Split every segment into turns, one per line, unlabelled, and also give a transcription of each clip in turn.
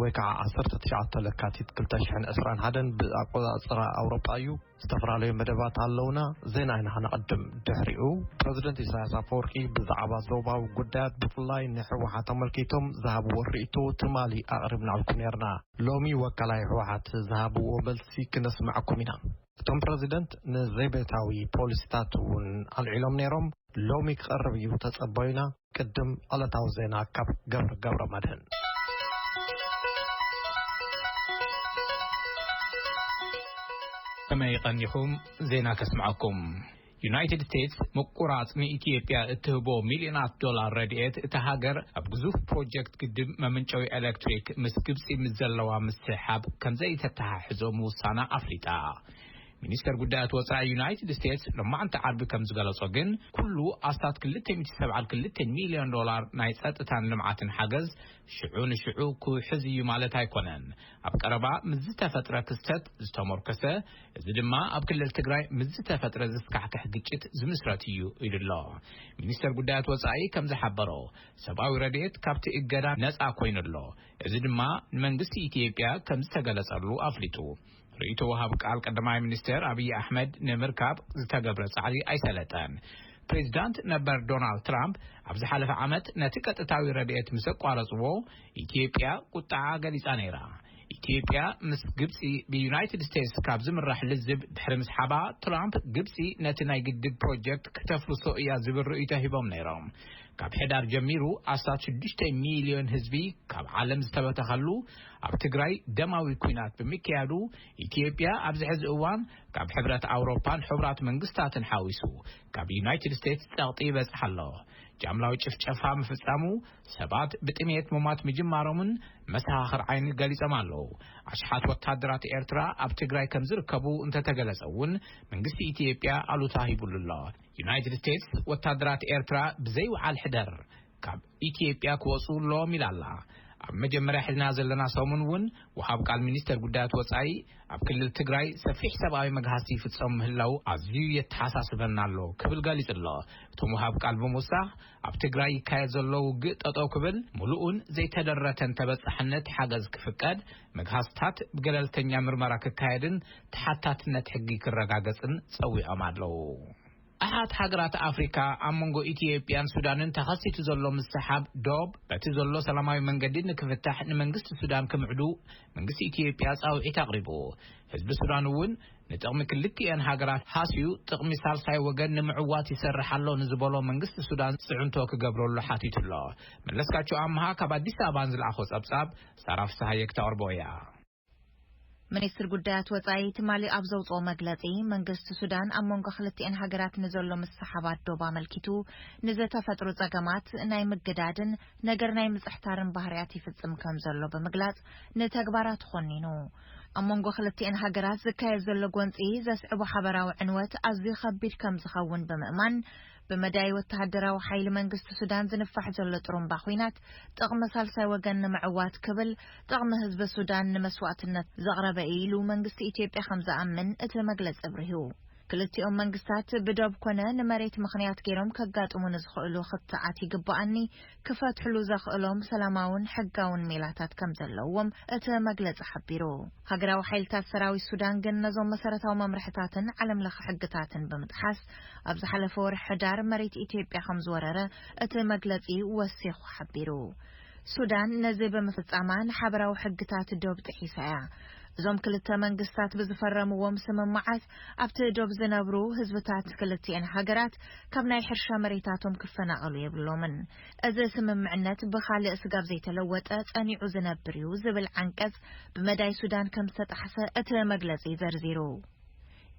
ወይ ከዓ ዓሰርተ ትሽዓተ ለካቲት ክልተ ሽሕን ዕስራን ሓደን ብኣቆፃፅራ ኣውሮጳ እዩ። ዝተፈላለዩ መደባት ኣለውና፣ ዜና ኢና ክነቐድም። ድሕሪኡ ፕረዚደንት ኢሳያስ ኣፈወርቂ ብዛዕባ ዞባዊ ጉዳያት ብፍላይ ንህወሓት ኣመልኪቶም ዝሃብዎ ርኢቶ ትማሊ ኣቕሪብናልኩም ነይርና። ሎሚ ወካላይ ህወሓት ዝሃብዎ መልሲ ክነስመዐኩም ኢና። እቶም ፕረዚደንት ንዘቤታዊ ፖሊሲታት እውን ኣልዒሎም ነይሮም። ሎሚ ክቐርብ እዩ ተፀበዩና። ቅድም ዕለታዊ ዜና ካብ ገብረ ገብረ መድህን።
ከመይ ቀኒኹም ዜና ከስምዐኩም ዩናይትድ ስቴትስ ምቁራጽ ንኢትዮጵያ እትህቦ ሚልዮናት ዶላር ረድኤት እታ ሃገር ኣብ ግዙፍ ፕሮጀክት ግድብ መምንጨዊ ኤሌክትሪክ ምስ ግብፂ ምስ ዘለዋ ምስሕሓብ ከምዘይተተሓሕዞ ምውሳና ኣፍሊጣ። ሚኒስተር ጉዳያት ወጻኢ ዩናይትድ ስቴትስ ሎማዕንቲ ዓርቢ ከም ዝገለጾ ግን ኩሉ ኣስታት 272 ሚልዮን ዶላር ናይ ጸጥታን ልምዓትን ሓገዝ ሽዑ ንሽዑ ክውሕዝ እዩ ማለት ኣይኮነን። ኣብ ቀረባ ምስ ዝተፈጥረ ክስተት ዝተሞርከሰ እዚ ድማ ኣብ ክልል ትግራይ ምስ ዝተፈጥረ ዘስካሕክሕ ግጭት ዝምስረት እዩ ኢሉ ኣሎ። ሚኒስተር ጉዳያት ወጻኢ ከም ዝሓበሮ ሰብኣዊ ረድኤት ካብቲ እገዳ ነጻ ኮይኑ ኣሎ። እዚ ድማ ንመንግስቲ ኢትዮጵያ ከም ዝተገለጸሉ ኣፍሊጡ። ርእይቶ ወሃብ ቃል ቀዳማይ ሚኒስተር ኣብዪ ኣሕመድ ንምርካብ ዝተገብረ ጻዕሪ ኣይሰለጠን። ፕሬዚዳንት ነበር ዶናልድ ትራምፕ ኣብ ዝሓለፈ ዓመት ነቲ ቀጥታዊ ረድኤት ምስ ኣቋረጽዎ ኢትዮጵያ ቁጥዓ ገሊጻ ነይራ። ኢትዮጵያ ምስ ግብጺ ብዩናይትድ ስቴትስ ካብ ዝምራሕ ልዝብ ድሕሪ ምስሓባ፣ ትራምፕ ግብጺ ነቲ ናይ ግድብ ፕሮጀክት ክተፍርሶ እያ ዝብል ርእይቶ ሂቦም ነይሮም። ካብ ሕዳር ጀሚሩ ኣስታት ሽዱሽተ ሚልዮን ህዝቢ ካብ ዓለም ዝተበተኸሉ ኣብ ትግራይ ደማዊ ኲናት ብምክያዱ ኢትዮጵያ ኣብዚ ሕዚ እዋን ካብ ሕብረት ኣውሮፓን ሕቡራት መንግስታትን ሓዊሱ ካብ ዩናይትድ ስቴትስ ጸቕጢ ይበጽሓ ኣሎ። ጃምላዊ ጭፍጨፋ ምፍጻሙ፣ ሰባት ብጥሜት ምሟት ምጅማሮምን መሰኻኽር ዓይኒ ገሊጾም ኣለዉ። ኣሽሓት ወተሃደራት ኤርትራ ኣብ ትግራይ ከም ዝርከቡ እንተተገለጸ እውን መንግስቲ ኢትዮጵያ ኣሉታ ሂብሉ ኣሎ። ዩናይትድ ስቴትስ ወተሃደራት ኤርትራ ብዘይ ውዓል ሕደር ካብ ኢትዮጵያ ክወፁ ኣለዎም ኢላ ኣላ። ኣብ መጀመርያ ሒዝናዮ ዘለና ሰሙን እውን ወሃብ ቃል ሚኒስቴር ጉዳያት ወፃኢ ኣብ ክልል ትግራይ ሰፊሕ ሰብኣዊ መግሃስቲ ይፍፀም ምህላዉ ኣዝዩ የተሓሳስበና ኣሎ ክብል ገሊፁ ኣሎ። እቶም ወሃብ ቃል ብምውሳኽ ኣብ ትግራይ ይካየድ ዘሎ ውግእ ጠጠው ክብል ሙሉእን ዘይተደረተን ተበፃሕነት ሓገዝ ክፍቀድ መግሃስትታት ብገለልተኛ ምርመራ ክካየድን ተሓታትነት ሕጊ ክረጋገፅን ፀዊዖም ኣለዉ። ኣሓት ሃገራት ኣፍሪካ ኣብ መንጎ ኢትዮጵያን ሱዳንን ተኸሲቱ ዘሎ ምስሕሓብ ዶብ በቲ ዘሎ ሰላማዊ መንገዲ ንክፍታሕ ንመንግስቲ ሱዳን ክምዕዱ መንግስቲ ኢትዮጵያ ፃውዒት ኣቕሪቡ። ህዝቢ ሱዳን እውን ንጥቕሚ ክልቲኤን ሃገራት ሃስዩ ጥቕሚ ሳልሳይ ወገን ንምዕዋት ይሰርሕ ኣሎ ንዝበሎ መንግስቲ ሱዳን ፅዕንቶ ክገብረሉ ሓቲቱ ኣሎ። መለስካቸው ኣምሃ ካብ ኣዲስ ኣበባ ንዝልኣኾ ፀብፃብ ሳራ ፍስሃየ ክተቕርቦ እያ።
ሚኒስትሪ ጉዳያት ወጻኢ ትማሊ ኣብ ዘውጽኦ መግለጺ፣ መንግስቲ ሱዳን ኣብ መንጎ ክልቲኤን ሃገራት ንዘሎ ምስሕሓባት ዶብ ኣመልኪቱ ንዘተፈጥሩ ጸገማት ናይ ምግዳድን ነገር ናይ ምጽሕታርን ባህርያት ይፍጽም ከም ዘሎ ብምግላጽ ንተግባራቱ ኮኒኑ። ኣብ መንጎ ክልቲኤን ሃገራት ዝካየድ ዘሎ ጎንጺ ዘስዕቦ ሓበራዊ ዕንወት ኣዝዩ ከቢድ ከም ዝኸውን ብምእማን፣ ብመዳይ ወተሃደራዊ ሓይሊ መንግስቲ ሱዳን ዝንፋሕ ዘሎ ጥሩምባ ኹናት፣ ጥቕሚ ሳልሳይ ወገን ንምዕዋት ክብል ጥቕሚ ህዝቢ ሱዳን ንመስዋእትነት ዘቕረበ እዩ ኢሉ መንግስቲ ኢትዮጵያ ከም ዝኣምን እቲ መግለጺ ኣብሪሁ። ክልቲኦም መንግስታት ብዶብ ኮነ ንመሬት ምኽንያት ገይሮም ከጋጥሙ ንዝኽእሉ ክትዓት ይግበኣኒ ክፈትሕሉ ዘኽእሎም ሰላማውን ሕጋውን ሜላታት ከም ዘለዎም እቲ መግለጺ ሓቢሩ። ሃገራዊ ሓይልታት ሰራዊት ሱዳን ግን ነዞም መሰረታዊ መምርሕታትን ዓለም ለኸ ሕግታትን ብምጥሓስ ኣብ ዝሓለፈ ወርሒ ሕዳር መሬት ኢትዮጵያ ከም ዝወረረ እቲ መግለጺ ወሲኹ ሓቢሩ። ሱዳን ነዚ ብምፍጻማ ንሓበራዊ ሕግታት ዶብ ጥሒሳ እያ። እዞም ክልተ መንግስታት ብዝፈረምዎም ስምምዓት ኣብቲ ዶብ ዝነብሩ ህዝብታት ክልቲኤን ሃገራት ካብ ናይ ሕርሻ መሬታቶም ክፈናቐሉ የብሎምን። እዚ ስምምዕነት ብኻልእ ስጋብ ዘይተለወጠ ጸኒዑ ዝነብር እዩ ዝብል ዓንቀጽ ብመዳይ ሱዳን ከም ዝተጣሕሰ እቲ መግለጺ ዘርዚሩ።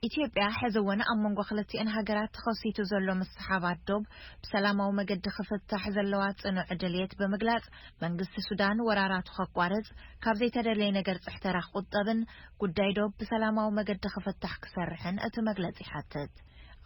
ኢትዮጵያ ሕዚ እውን ኣብ መንጎ ክልቲኤን ሃገራት ተኸሲቱ ዘሎ ምስሕሓባት ዶብ ብሰላማዊ መገዲ ክፍታሕ ዘለዋ ጽኑዕ ድልየት ብምግላጽ መንግስቲ ሱዳን ወራራቱ ከቋርጽ፣ ካብ ዘይተደለየ ነገር ጽሕተራ ክቑጠብን ጉዳይ ዶብ ብሰላማዊ መገዲ ክፍታሕ ክሰርሕን እቲ መግለጺ ይሓትት።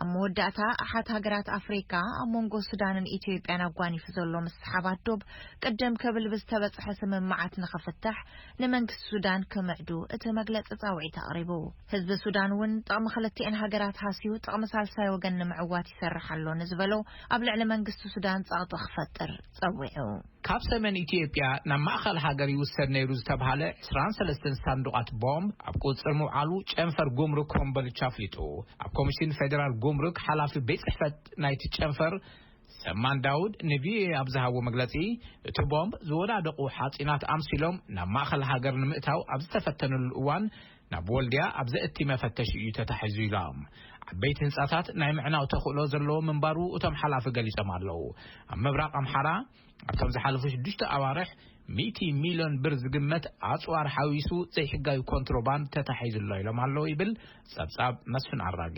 ኣብ መወዳእታ ኣሓት ሃገራት ኣፍሪቃ ኣብ መንጎ ሱዳንን ኢትዮጵያን ኣጓኒፉ ዘሎ ምስሓባት ዶብ ቅድም ክብል ብዝተበጽሐ ስምምዓት ንኽፍታሕ ንመንግስቲ ሱዳን ክምዕዱ እቲ መግለጺ ጻውዒት ኣቕሪቡ። ህዝቢ ሱዳን እውን ጥቕሚ ክልቲኤን ሃገራት ሃስዩ ጥቕሚ ሳልሳይ ወገን ንምዕዋት ይሰርሕ ኣሎ ንዝበሎ ኣብ ልዕሊ መንግስቲ ሱዳን ጸቕጢ ክፈጥር ጸዊዑ። ካብ ሰሜን
ኢትዮጵያ ናብ ማእኸል ሃገር ይውሰድ ነይሩ ዝተብሃለ ዕስራን ሰለስተን ሳንዱቓት ቦምብ ኣብ ቁፅፅር ምውዓሉ ጨንፈር ጉምሩክ ኮምቦልቻ ኣፍሊጡ። ኣብ ኮሚሽን ፌዴራል ጉምሩክ ሓላፊ ቤት ፅሕፈት ናይቲ ጨንፈር ሰማን ዳውድ ንቪኦኤ ኣብ ዝሃቦ መግለፂ እቲ ቦምብ ዝወዳደቑ ሓፂናት ኣምሲሎም ናብ ማእኸል ሃገር ንምእታው ኣብ ዝተፈተንሉ እዋን ናብ ወልድያ ኣብ ዘእቲ መፈተሺ እዩ ተታሒዙ ኢሎም። ዓበይቲ ህንፃታት ናይ ምዕናው ተኽእሎ ዘለዎ ምንባሩ እቶም ሓላፊ ገሊፆም ኣለው። ኣብ ምብራቕ ኣምሓራ ኣብቶም ዝሓለፉ ሽዱሽተ ኣዋርሕ ሚእቲ ሚሊዮን ብር ዝግመት ኣፅዋር ሓዊሱ ዘይሕጋዊ ኮንትሮባንድ ተታሒዙ ኣሎ ኢሎም ኣለው ይብል ፀብፃብ መስፍን ኣራጌ።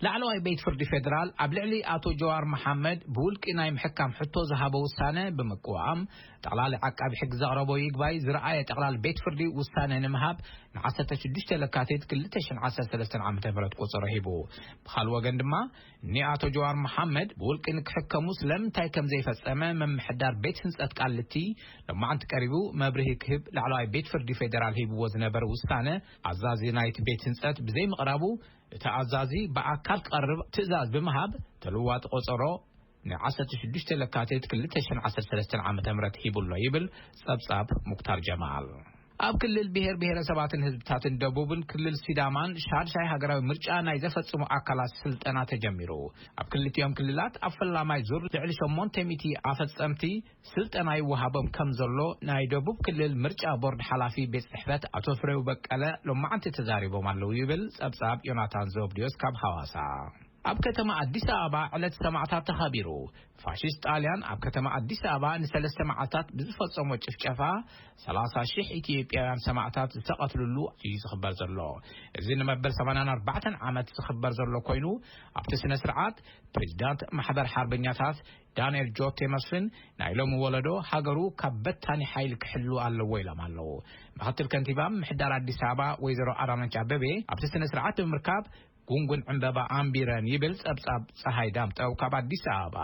ላዕለዋይ ቤት ፍርዲ ፌደራል ኣብ ልዕሊ ኣቶ ጀዋር መሓመድ ብውልቂ ናይ ምሕካም ሕቶ ዝሃቦ ውሳነ ብምቅዋም ጠቕላሊ ዓቃቢ ሕጊ ዘቕረቦ ይግባይ ዝረኣየ ጠቕላሊ ቤት ፍርዲ ውሳነ ንምሃብ ን ዓሰርተ ሽዱሽተ ለካቲት ክልተ ሽሕን ዓሰርተ ሰለስተን ዓመተ ምህረት ቆፀሮ ሂቡ። ብኻልእ ወገን ድማ ን ኣቶ ጀዋር መሓመድ ብውልቂ ንክሕከሙ ስለምንታይ ከምዘይፈፀመ ምምሕዳር ቤት ህንፀት ቃሊቲ ሎማዕንቲ ቀሪቡ መብርሂ ክህብ ላዕለዋይ ቤት ፍርዲ ፌደራል ሂብዎ ዝነበረ ውሳነ ኣዛዚ ናይቲ ቤት ህንፀት ብዘይምቕራቡ እቲ ኣዛዚ ብኣካል ክቐርብ ትእዛዝ ብምሃብ ተልዋጢ ቆፀሮ ን ዓሰርተ ሽዱሽተ ለካቲት ክልተ ሽሕን ዓሰርተ ሰለስተን ዓመተ ምህረት ሂቡ ኣሎ ይብል ፀብፃብ ሙክታር ጀማል። ኣብ ክልል ብሄር ብሄረሰባትን ህዝብታትን ደቡብን ክልል ሲዳማን ሻድሻይ ሃገራዊ ምርጫ ናይ ዘፈፅሙ ኣካላት ስልጠና ተጀሚሩ። ኣብ ክልቲኦም ክልላት ኣብ ፈላማይ ዙር ልዕሊ ሸሞንተ ሚእቲ ኣፈፀምቲ ስልጠና ይወሃቦም ከምዘሎ ናይ ደቡብ ክልል ምርጫ ቦርድ ሓላፊ ቤት ፅሕፈት ኣቶ ፍሬው በቀለ ሎማዕንቲ ተዛሪቦም ኣለው ይብል ፀብፃብ ዮናታን ዘብድዮስ ካብ ሃዋሳ። ኣብ ከተማ ኣዲስ ኣበባ ዕለት ሰማእታት ተኸቢሩ። ፋሽስት ጣልያን ኣብ ከተማ ኣዲስ ኣበባ ንሰለስተ መዓልታት ብዝፈጸሞ ጭፍጨፋ ሰላሳ ሽሕ ኢትዮጵያውያን ሰማእታት ዝተቐትልሉ እዩ ዝኽበር ዘሎ። እዚ ንመበል ሰማንያን ኣርባዕተን ዓመት ዝኽበር ዘሎ ኮይኑ ኣብቲ ስነ ስርዓት ፕሬዚዳንት ማሕበር ሓርበኛታት ዳንኤል ጆቴ መስፍን ናይ ሎሚ ወለዶ ሃገሩ ካብ በታኒ ሓይሊ ክሕሉ ኣለዎ ኢሎም ኣለዉ። ምክትል ከንቲባ ምምሕዳር ኣዲስ ኣበባ ወይዘሮ ኣዳነች ኣበቤ ኣብቲ ስነ ስርዓት ብምርካብ ጉንጉን ዕምበባ ኣንቢረን ይብል ፀብፃብ ፀሃይ ዳምጠው ካብ ኣዲስ ኣበባ።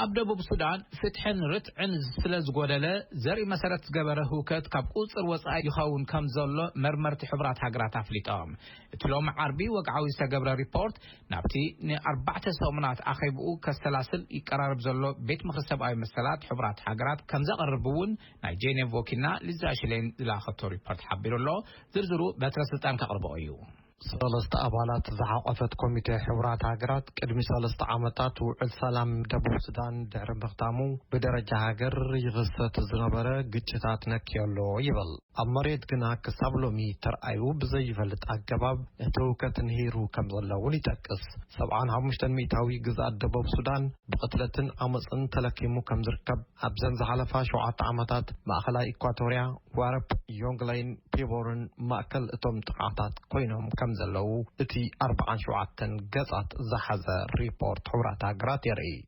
ኣብ ደቡብ ሱዳን ፍትሕን ርትዕን ስለ ዝጎደለ ዘርኢ መሰረት ዝገበረ ህውከት ካብ ቁፅፅር ወፃኢ ይኸውን ከም ዘሎ መርመርቲ ሕቡራት ሃገራት ኣፍሊጦም። እቲ ሎሚ ዓርቢ ወግዓዊ ዝተገብረ ሪፖርት ናብቲ ንኣርባዕተ ሰሙናት ኣኼብኡ ከሰላስል ይቀራረብ ዘሎ ቤት ምኽሪ ሰብኣዊ መሰላት ሕቡራት ሃገራት ከም ዘቕርብ'ውን ናይ ጄኔቭ ወኪልና ሊዛ ሽሌን ዝላኣኸቶ ሪፖርት ሓቢሩ ኣሎ። ዝርዝሩ በትረ ስልጣን ከቕርቦ እዩ። ሰለስተ
ኣባላት ዝሓቖፈት ኮሚቴ ሕቡራት ሃገራት ቅድሚ ሰለስተ ዓመታት ውዕል ሰላም ደቡብ ሱዳን ድሕሪ ምኽታሙ ብደረጃ ሃገር ይኽሰት ዝነበረ ግጭታት ነክዮ ኣሎ ይብል። ኣብ መሬት ግና ክሳብ ሎሚ ተርኣዩ ብዘይፈልጥ ኣገባብ እቲ ህውከት ንሂሩ ከም ዘሎ እውን ይጠቅስ። ሰብዓን ሓሙሽተን ሚእታዊ ግዝኣት ደቡብ ሱዳን ብቕትለትን ዓመጽን ተለኪሙ ከም ዝርከብ ኣብዘን ዝሓለፋ ሸውዓተ ዓመታት ማእኸላይ ኢኳቶርያ፣ ዋረፕ፣ ዮንግለይን ፒቦርን ማእከል እቶም ጥቕዓታት ኮይኖም ከም ዘለዉ እቲ ኣርብዓን ሸውዓተን ገጻት ዝሓዘ ሪፖርት ሕቡራት ሃገራት የርእይ።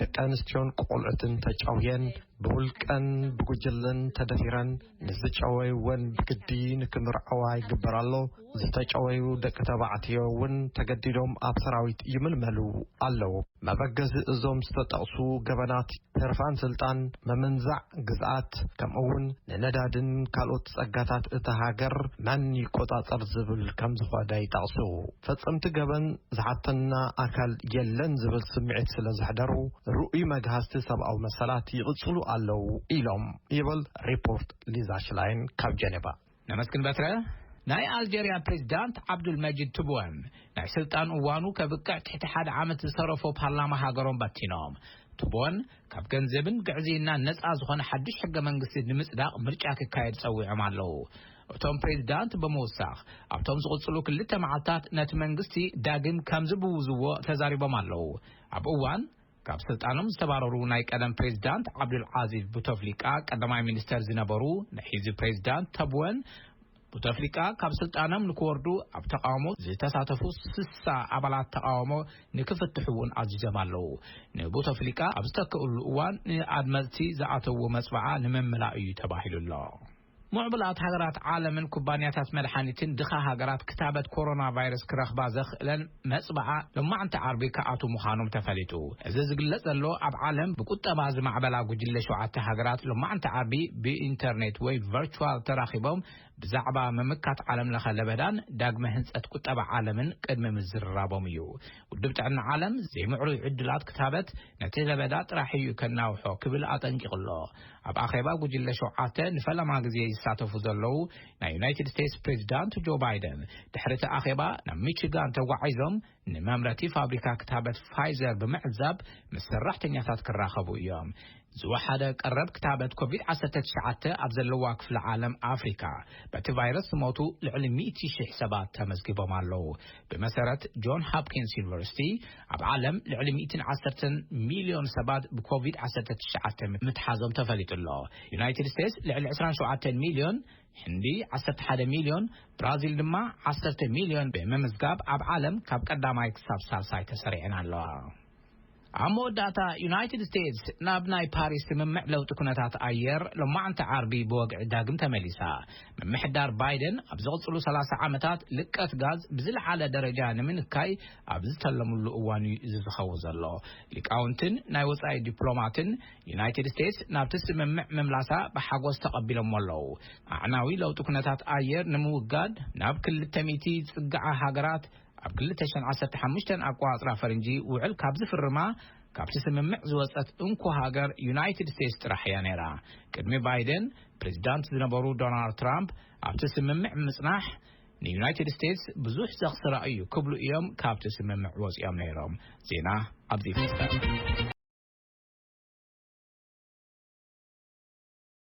ደቂ ኣንስትዮን ቆልዑትን ተጨውየን ብውልቀን ብጉጅለን ተደፊረን ንዝጨወይወን ብግዲ ንክምርዐዋ ይግበር ኣሎ። ዝተጨወዩ ደቂ ተባዕትዮ እውን ተገዲዶም ኣብ ሰራዊት ይምልመሉ ኣለዉ። መበገዚ እዞም ዝተጠቕሱ ገበናት ህርፋን ስልጣን፣ ምምንዛዕ ግዝኣት፣ ከምኡ እውን ንነዳድን ካልኦት ጸጋታት እታ ሃገር መን ይቆጻጸር ዝብል ከም ዝኾነ ይጠቕሱ። ፈጸምቲ ገበን ዝሓተና ኣካል የለን ዝብል ስምዒት ስለ ዘሕደሩ ርኡይ መግሃስቲ ሰብኣዊ መሰላት ይቕጽሉ ኣለዉ ኢሎም ይብል ሪፖርት ሊዛ ሽላይን ካብ ጀኔቫ። ነመስግን በትረ።
ናይ ኣልጀርያ ፕሬዚዳንት ዓብዱልመጂድ ትቡን ናይ ስልጣን እዋኑ ከብቅዕ ትሕቲ ሓደ ዓመት ዝተረፎ ፓርላማ ሃገሮም በቲኖም። ትቡን ካብ ገንዘብን ግዕዝይናን ነፃ ዝኾነ ሓዱሽ ሕገ መንግስቲ ንምፅዳቕ ምርጫ ክካየድ ፀዊዖም ኣለው። እቶም ፕሬዚዳንት ብምውሳኽ ኣብቶም ዝቕፅሉ ክልተ መዓልታት ነቲ መንግስቲ ዳግም ከምዝብውዝዎ ተዛሪቦም ኣለው። ኣብ እዋን ካብ ስልጣኖም ዝተባረሩ ናይ ቀደም ፕሬዚዳንት ዓብዱልዓዚዝ ቡተፍሊቃ ቀዳማይ ሚኒስተር ዝነበሩ ናይ ሕዚ ፕሬዚዳንት ተብወን ቡተፍሊቃ ካብ ስልጣኖም ንክወርዱ ኣብ ተቓውሞ ዝተሳተፉ ስሳ ኣባላት ተቓውሞ ንክፍትሑ እውን ኣዚዞም ኣለዉ። ንቡተፍሊቃ ኣብ ዝተክእሉ እዋን ንኣድመጽቲ ዝኣተዎ መጽብዓ ንምምላእ እዩ ተባሂሉ ኣሎ። ምዕቡላት ሃገራት ዓለምን ኩባንያታት መድሓኒትን ድኻ ሃገራት ክታበት ኮሮናቫይረስ ክረኽባ ዘኽእለን መጽብዓ ሎማዕንቲ ዓርቢ ክኣትዉ ምዃኖም ተፈሊጡ። እዚ ዝግለጽ ዘሎ ኣብ ዓለም ብቁጠባ ዝማዕበላ ጉጅለ ሸውዓተ ሃገራት ሎማዕንቲ ዓርቢ ብኢንተርኔት ወይ ቨርቹዋል ተራኺቦም ብዛዕባ ምምካት ዓለም ለኸ ለበዳን ዳግመ ህንጸት ቁጠባ ዓለምን ቅድሚ ምዝርራቦም እዩ። ውድብ ጥዕና ዓለም ዘይምዕሩይ ዕድላት ክታበት ነቲ ለበዳ ጥራሕ እዩ ከናውሖ ክብል ኣጠንቂቑ ኣሎ። ኣብ ኣኼባ ጉጅለ ሸውዓተ ንፈለማ ግዜ ዝሳተፉ ዘለዉ ናይ ዩናይትድ ስቴትስ ፕሬዚዳንት ጆ ባይደን ድሕሪ እቲ ኣኼባ ናብ ሚችጋን ተጓዒዞም ንመምረቲ ፋብሪካ ክታበት ፋይዘር ብምዕዛብ ምስ ሰራሕተኛታት ክራኸቡ እዮም። ዝወሓደ ቀረብ ክታበት ኮቪድ-19 ኣብ ዘለዋ ክፍለ ዓለም ኣፍሪካ በቲ ቫይረስ ዝሞቱ ልዕሊ ሚእቲ ሽሕ ሰባት ተመዝጊቦም ኣለዉ። ብመሰረት ጆን ሃፕኪንስ ዩኒቨርሲቲ፣ ኣብ ዓለም ልዕሊ ሚእትን ዓሰርተን ሚልዮን ሰባት ብኮቪድ ዓሰርተ ትሽዓተ ምትሓዞም ተፈሊጡ ኣሎ። ዩናይትድ ስቴትስ ልዕሊ ዕስራን ሸውዓተን ሚልዮን፣ ህንዲ ዓሰርተ ሓደ ሚልዮን፣ ብራዚል ድማ ዓሰርተ ሚልዮን ብምምዝጋብ ኣብ ዓለም ካብ ቀዳማይ ክሳብ ሳልሳይ ተሰሪዐን ኣለዋ። ኣብ መወዳእታ፣ ዩናይትድ ስቴትስ ናብ ናይ ፓሪስ ስምምዕ ለውጢ ኩነታት ኣየር ሎማዕንቲ ዓርቢ ብወግዒ ዳግም ተመሊሳ። ምምሕዳር ባይደን ኣብ ዝቕጽሉ ሰላሳ ዓመታት ልቀት ጋዝ ብዝለዓለ ደረጃ ንምንካይ ኣብ ዝተለምሉ እዋን'ዩ እዚ ዝኸውን ዘሎ። ሊቃውንትን ናይ ወጻኢ ዲፕሎማትን ዩናይትድ ስቴትስ ናብቲ ስምምዕ ምምላሳ ብሓጎስ ተቐቢሎሞ ኣለዉ። ኣዕናዊ ለውጢ ኩነታት ኣየር ንምውጋድ ናብ ክልተ ሚእቲ ዝጽግዓ ሃገራት ኣብ ክልተ ሽሕን ዓሰርተ ሓሙሽተን ኣቆጻጽራ ፈረንጂ ውዕል ካብ ዝፍርማ ካብቲ ስምምዕ ዝወጸት እንኮ ሃገር ዩናይትድ ስቴትስ ጥራሕ እያ ነይራ። ቅድሚ ባይደን ፕሬዚዳንት ዝነበሩ ዶናልድ ትራምፕ ኣብቲ ስምምዕ ምጽናሕ ንዩናይትድ ስቴትስ ብዙሕ ዘኽስራ እዩ ክብሉ እዮም ካብቲ ስምምዕ ወጺኦም ነይሮም። ዜና ኣብዚ ይፍጸም።